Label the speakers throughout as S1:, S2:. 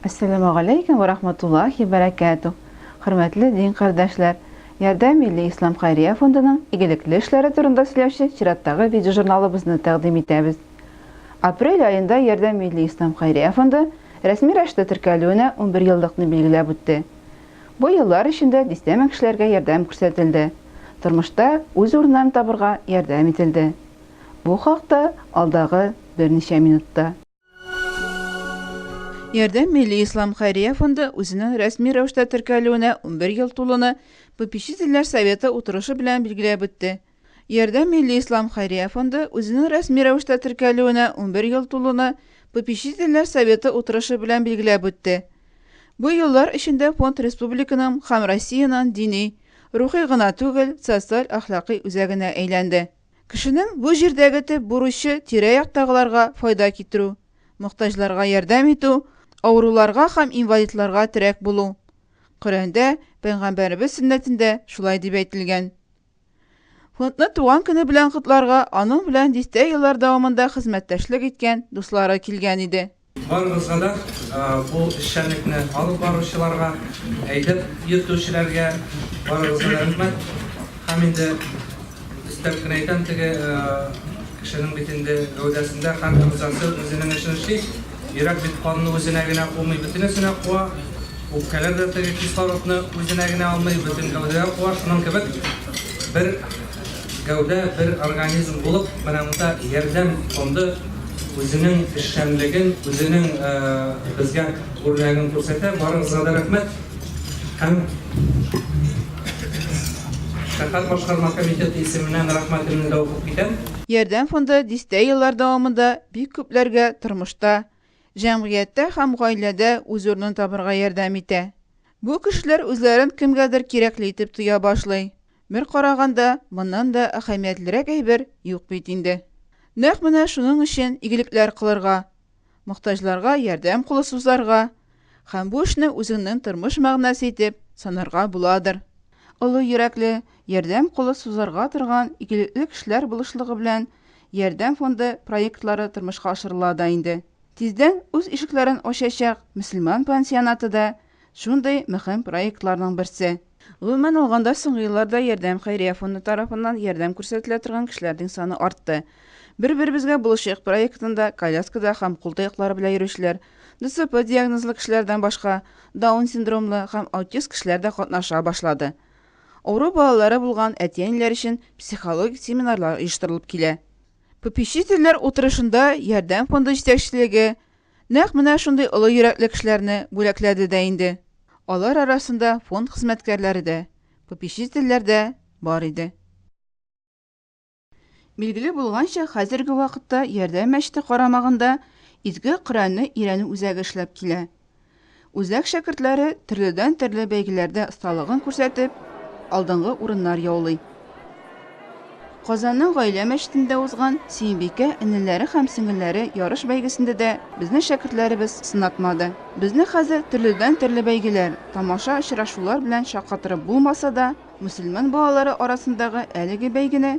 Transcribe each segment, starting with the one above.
S1: Әссәламү галәйкүм вә рахматуллаһи вә бәрәкәтү! Хөрмәтле дин кардәшләр! Ярдәм милли ислам хәйрия фондының игелекле эшләре турында сөйләүче чираттагы видеожурналыбызны тәкъдим итәбез. Апрель аенда Ярдәм милли ислам хәйрия фонды рәсми рәвештә теркәлүенә унбер еллыкны билгеләп үтте. Бу еллар эчендә дистә мең кешеләргә ярдәм күрсәтелде, тормышта үз урыннарын табырга ярдәм ителде. Бу хакта алдагы берничә минутта. Ярдәм милли ислам хәйрия фонды үзенең рәсми рәвештә теркәлүенә 11 ел тулуны попечительләр советы утырышы белән билгеләп үтте. Ярдәм милли ислам хәйрия фонды үзенең рәсми рәвештә теркәлүенә 11 ел тулуны попечительләр советы утырышы белән билгеләп үтте. Бу еллар эчендә фонд республиканың һәм Россиянең дини, рухи гына түгел, социаль-әхлакый үзәгенә әйләнде. Кешенең бу җирдәге төп бурычы тирә-яктагыларга файда китерү, мохтаҗларга ярдәм итү, авыруларга һәм инвалидларга терәк булу. Коръәндә, Пәйгамбәребез сөннәтендә шулай дип әйтелгән. Фондны туган көне белән котларга аның белән дистә еллар дәвамында хезмәттәшлек иткән дуслары килгән иде. Барыгызга да,
S2: бу эшчәнлекне алып баручыларга, әйдәп йөртүчеләргә барыгызга да рәхмәт. Һәм инде өстәп кенә әйтәм, теге кешенең бит инде гәүдәсендә һәр әгъзасы үзенең эшен эшли. Йөрәк бит канны үзенә генә кумый, бөтенесенә куа. Үпкәләр дә теге кислородны үзенә генә алмый, бөтен гәүдәгә куа. Шуның кебек бер Гәүдә бер организм булып, менә монда Ярдәм фонды үзенең эшчәнлеген, үзенең безгә үрнәген күрсәтә. Барыгызга да рәхмәт. Һәм шәһәр башкарма комитеты исеменнән рәхмәтемне дә укып китәм. Ярдәм фонды
S1: дистә еллар дәвамында бик күпләргә тормышта, җәмгыятьтә һәм гаиләдә үз урынын табырга ярдәм итә. Бу кешеләр үзләрен кемгәдер кирәкле итеп тоя башлый. Бер караганда, моннан да әһәмиятлерәк әйбер юк бит инде. Нәкъ менә шуның өчен игелекләр кылырга, мохтаҗларга ярдәм кулы сузарга һәм бу эшне үзеңнең тормыш мәгънәсе итеп санарга буладыр. Олы йөрәкле, ярдәм кулы сузарга торган игелекле кешеләр булышлыгы белән Ярдәм фонды проектлары тормышка ашырыла да инде. Тиздән үз ишекләрен ачачак мөселман пансионаты да Шундый мөһим проектларның берсе. Гомумән алганда, соңгы елларда Ярдәм хәйрия фонды тарафыннан ярдәм күрсәтелә торган кешеләрнең саны артты. Бер-беребезгә булышыйк проектында коляскада һәм кул таяклары белән йөрүчеләр, ДЦП диагнозлы кешеләрдән башка, Даун синдромлы һәм аутист кешеләр дә катнаша башлады. Авыру балалары булган әти-әниләр өчен психологик семинарлар оештырылып килә. Попечительләр утырышында Ярдәм фонды җитәкчелеге, Нәкъ менә шундый олы йөрәкле кешеләрне бүләкләде дә инде. Алар арасында фонд хезмәткәрләре дә, попечительләр дә бар иде. Билгеле булганча, хәзерге вакытта Ярдәм мәчете карамагында Изге Коръәнне өйрәнү үзәге эшләп килә. Үзәк шәкертләре төрледән-төрле бәйгеләрдә осталыгын күрсәтеп, алдынгы урыннар яулый. Казанның Гаилә мәчетендә узган Сөембикә энеләре һәм сеңелләре ярыш бәйгесендә дә безнең шәкертләребез сынатмады. Безне хәзер төрледән-төрле бәйгеләр, тамаша очрашулар белән шаккатырып булмаса да, мөселман балалары арасындагы әлеге бәйгене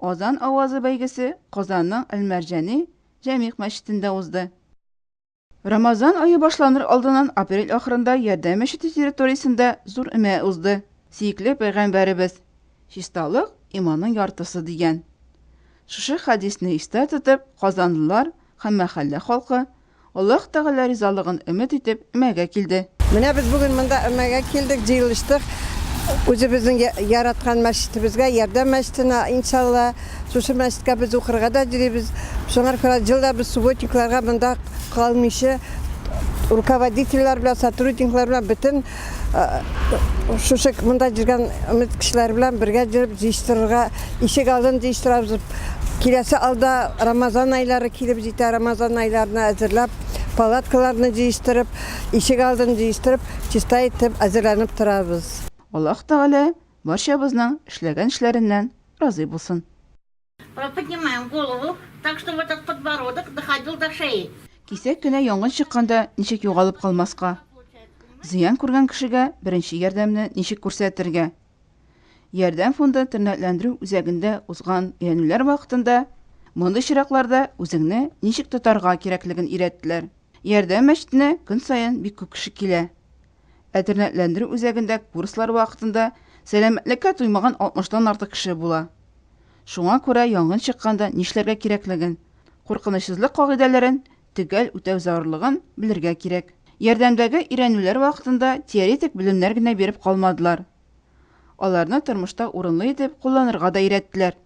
S1: Азан авазы бәйгесе Казанның Әл-Мәрҗани Җәмигъ мәчетендә узды. Рамазан ае башланыр алдыннан апрель ахырында Ярдәм мәчете территориясендә зур өмә узды. Сөекле пәйгамбәребез, Чисталык, иманның яртысы, дигән. Шушы хәдисне истә тотып, казанлылар һәм мәхәллә халкы Аллаһ Тәгалә ризалыгын өмет итеп,
S3: өмәгә килде.
S1: Менә
S3: без бүген
S1: монда
S3: өмәгә килдек, җыелыштык. Үзебезнең яраткан мәчетебезгә, Ярдәм мәчетенә, иншалла. Шушы мәчеткә без укырга да йөрибез. Шуңар күрә ел да без субботникларга монда калмыйча, руководительләр белән, сотрудниклар белән бөтен шушы мында жүргән өмет кешеләр белән бергә җөреп җыештырырга ишек алдын җыештырабыз киләсе алда рамазан айлары килеп җитә рамазан айларына әзерләп палаткаларны җыештырып ишек алдын җыештырып чиста итеп әзерләнеп торабыз аллаһ тәгалә
S1: барчабызның эшләгән эшләреннән разый булсын Поднимаем
S4: голову так, чтобы этот подбородок доходил до шеи. Кисәк кенә янгын
S1: чыкканда ничек югалып калмаска? Зыян күргән кешегә беренче ярдәмне ничек күрсәтергә? Ярдәм фонды тернәкләндерү үзәгендә узган өйрәнүләр вакытында мондый чиракларда үзеңне ничек тотарга кирәклеген өйрәттеләр. Ярдәм мәчетенә көн саен бик күп кеше килә. Ә тернәкләндерү үзәгендә курслар вакытында сәламәтлеккә туймаган 60 тан артык кеше була. Шуңа күрә янгын чыкканда нишләргә кирәклеген, куркынычсызлык кагыйдәләрен төгәл үтәү зарурлыгын белергә кирәк. Ярдәмдәге өйрәнүләр вакытында теоретик белемнәр генә биреп калмадылар. Аларны тормышта урынлы итеп кулланырга да өйрәттеләр.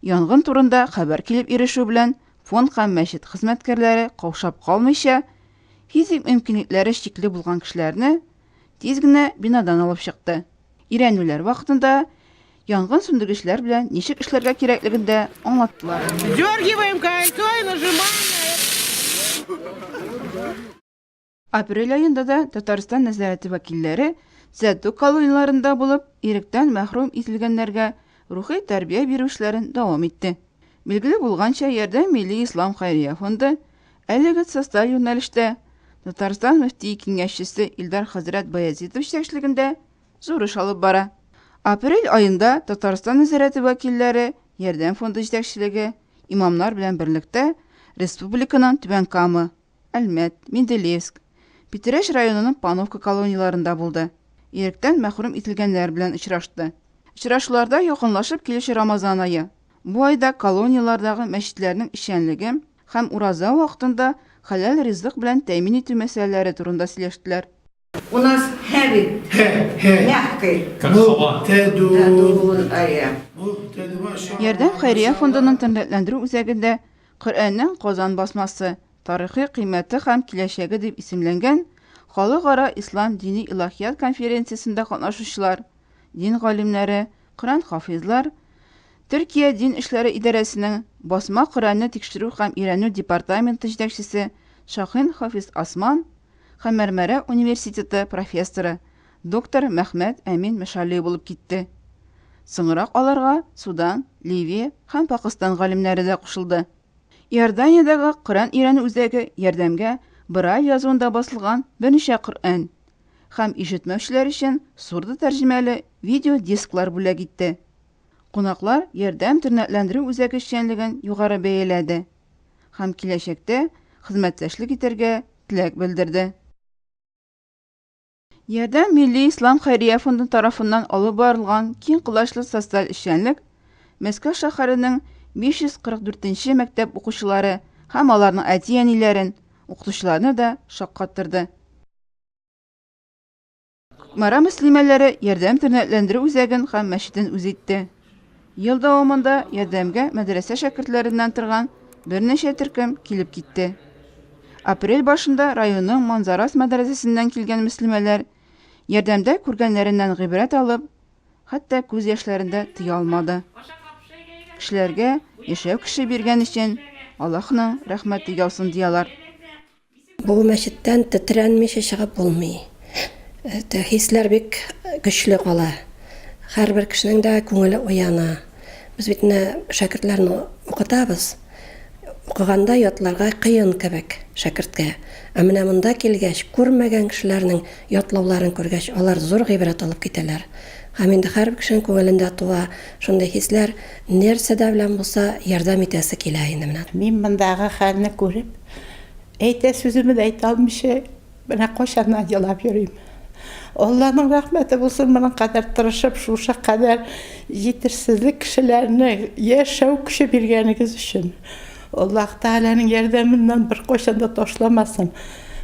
S1: Янгын турында хәбәр килеп ирешү белән фонд һәм мәчет хезмәткәрләре каушап калмыйча, физик мөмкинлекләре чикле булган кешеләрне тиз генә бинадан алып чыкты. Өйрәнүләр вакытында янгын сүндергечләр белән ничек эшләргә кирәклеген дә аңлаттылар. Дергиваем
S5: кольцо и нажимаем на это.
S1: Апрель аенда да Татарстан нәзарәте вәкилләре Сәтү колонияләрендә булып, иректән мәхрүм ителгәннәргә рухи тәрбия бирү эшләрен дәвам итте. Билгеле булганча, Ярдәм милли ислам хәйрия фонды әлеге социаль юнәлештә Татарстан мөфтие киңәшчесе Илдар хәзрәт Баязитов җитәкчелегендә зур эш алып бара. Апрель аенда Татарстан нәзарәте вәкилләре Ярдәм фонды җитәкчелеге, имамнар белән берлектә республиканың Түбән Кама, Әлмәт, Менделеевск, Питрәч районының Пановка колонияләрендә булды. Иректән мәхрүм ителгәннәр белән очрашты. Очрашуларда якынлашып килүче Рамазан ае, бу айда колонияләрдәге мәчетләрнең эшчәнлеге һәм ураза вакытында хәләл ризык белән тәэмин итү мәсьәләләре турында сөйләштеләр. У нас
S6: heavy. Heavy. Мягкий. Как ну, сова. Тәдун.
S1: Ярдәм хәйрия фондының тәнләтләндерү үзәгендә Коръәннең Казан басмасы, тарихи кыйммәте һәм киләчәге дип исемләнгән халыкара ислам дини илаһият конференциясендә катнашучылар, дин галимнәре, Коръән хафизлар, Төркия дин эшләре идарәсенең басма Коръәнне тикшерү һәм өйрәнү департаменты җитәкчесе Шахин Хафиз Асман һәм Мәрмәрә университеты профессоры, доктор Мәхмәт Әмин Мәшалли булып китте. Соңрак аларга Судан, Ливия һәм Пакыстан галимнәре дә кушылды. Иорданиядәге Коръән өйрәнү үзәге ярдәмгә Брайль язуында басылган берничә Коръән һәм ишетмәүчеләр өчен сурдо тәрҗемәле видеодисклар бүләк итте. Кунаклар Ярдәм тернәкләндерү үзәге эшчәнлеген югары бәяләде. һәм киләчәктә хезмәттәшлек итәргә теләк белдерде. Ярдәм милли ислам хәйрия фонды тарафыннан алып барылган киң колачлы социаль эшчәнлек Мәскәү шәһәренең 544 мәктәп укучылары һәм аларның әти-әниләрен, укытучыларны да шаккаттырды. Кукмара мөслимәләре Ярдәм тернәкләндерү үзәген һәм мәчетен үз итте. Ел дәвамында Ярдәмгә мәдрәсә шәкертләреннән торган берничә төркем килеп китте. Апрель башында районның Манзарас мәдрәсәсеннән килгән мөслимәләр Ярдәмдә күргәннәреннән гыйбрәт алып, хәтта күз яшьләрен дә тыя алмады. Кешеләргә яшәү кеше биргән өчен Аллаһның рәхмәте яусын, диялар. Бу
S7: мәчеттән тетрәнмичә чыгып булмый. Это хисләр бик көчле кала. Һәрбер кешенең дә күңеле уяна. Без бит менә шәкертләрне укытабыз. Укыганда ятларга кыен кебек шәкерткә. Ә менә монда килгәч, күрмәгән кешеләрнең ятлауларын күргәч, алар зур гыйбрәт алып китәләр. Һәм инде һәрбер кешенең күңелендә туа шундый хисләр, нәрсә дә белән булса ярдәм итәсе килә инде менә. Мин мондагы хәлне
S5: күреп, Әйтә сүземне дә әйтә алмыйча, менә кайчаннан елап йөрим. Алланың рәхмәте булсын, моның кадәр тырышып, шушы кадәр җитешсезлек кешеләрне яшәү көче биргәнегез өчен. Аллаһ Тәгаләнең ярдәменнән беркайчан да ташламасын.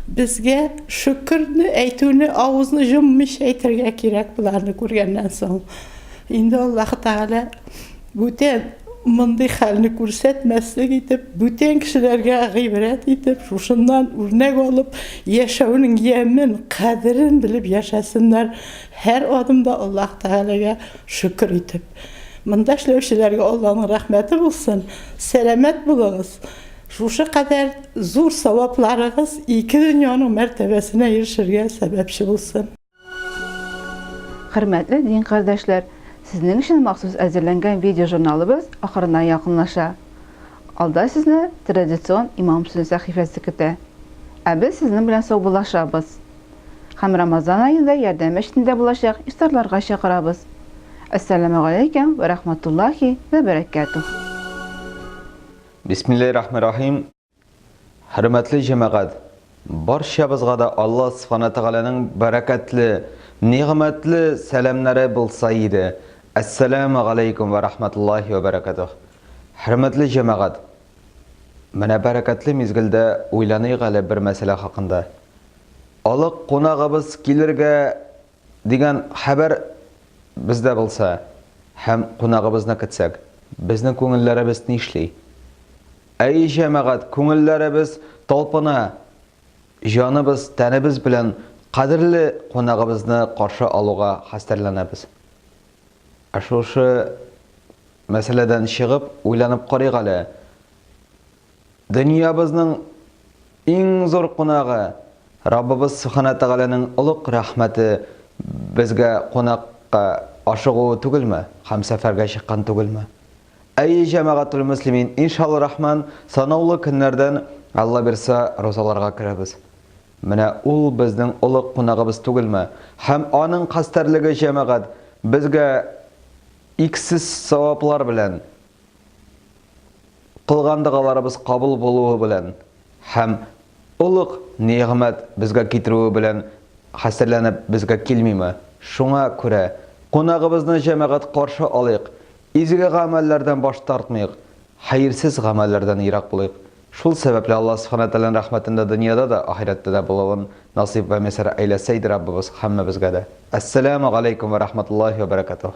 S5: Безгә шөкерне әйтүне авызны җоммыйча әйтергә кирәк, боларны күргәннән соң. Инде Аллаһ Тәгалә Бүтән мондый хәлне күрсәтмәслек итеп, бүтән кешеләргә гыйбрәт итеп, шушыннан үрнәк алып, яшәүнең ямен, кадерен белеп яшәсеннәр, һәр адымда Аллаһ Тәгаләгә шөкер итеп. Монда эшләүчеләргә Алланың рәхмәте булсын, сәламәт булыгыз, шушы кадәр зур савапларыгыз ике дөньяның мәртәбәсенә ирешергә сәбәпче булсын. Хөрмәтле
S1: дин кардәшләр, сезнең өчен махсус әзерләнгән видеожурналыбыз ахырына якынлаша. Алда сезне традицион имам сүзе сәхифәсе көтә. Ә без сезнең белән саубуллашабыз. Һәм Рамазан аенда ярдәм мәчетендә булачак ифтарларга чакырабыз. Әссәламү галәйкем вә рахматуллахи вә бәрәкәтүһ. Бисмиллаһи
S8: рахмани рахим. Хөрмәтле җәмәгать, барчабызга да Алла Субхана Тәгаләнең бәрәкәтле, нигъмәтле сәламнәре булса иде. Әссәламү галәйкүм вә рахмәтуллаһи вә бәрәкәтүһ. Хөрмәтле җәмәгать, менә бәрәкәтле мизгелдә уйланыйк әле бер мәсьәлә хакында. Олы кунагыбыз килергә дигән хәбәр бездә булса һәм кунагыбызны көтсәк, безнең күңелләребез нишли? Әй, җәмәгать, күңелләребез талпына! Җаныбыз, тәнебез белән кадерле кунагыбызны каршы алуга хәстәрләнәбез. Ә шушы мәсьәләдән чыгып, уйланып карыйк әле, дөньябызның иң зур кунагы, Раббыбыз Сөбханә Тәгаләнең олуг рәхмәте безгә кунакка ашыгуы түгелме һәм сәфәргә чыккан түгелме? Әйе, җәмәгатулмөслимин, иншаллрахман, санаулы көннәрдән, Алла бирса, розаларга керәбез. Менә ул безнең олуг кунагыбыз түгелме? Һәм аның хәстәрлеге, җәмәгать, безгә иксез саваплар белән, кылган догаларыбыз кабул булуы белән. Һәм олуг нигъмәт безгә китерүе белән хәстәрләнеп безгә килмиме? Шуңа күрә, кунагыбызны җәмәгать каршы алыйк, изге гамәлләрдән баш тартмыйк, хәерсез гамәлләрдән ерак булыйк. Шул сәбәпле Аллаһ Сүбхәнә Тәгаләнең рәхмәтендә дөньяда да, ахирәттә дә булуын насыйп вә мияссәр әйләсә иде Раббыбыз һәммәбезгә дә. Әссәләмү галәйкүм вә рахматуллаһи вә бәрәкәтүһ.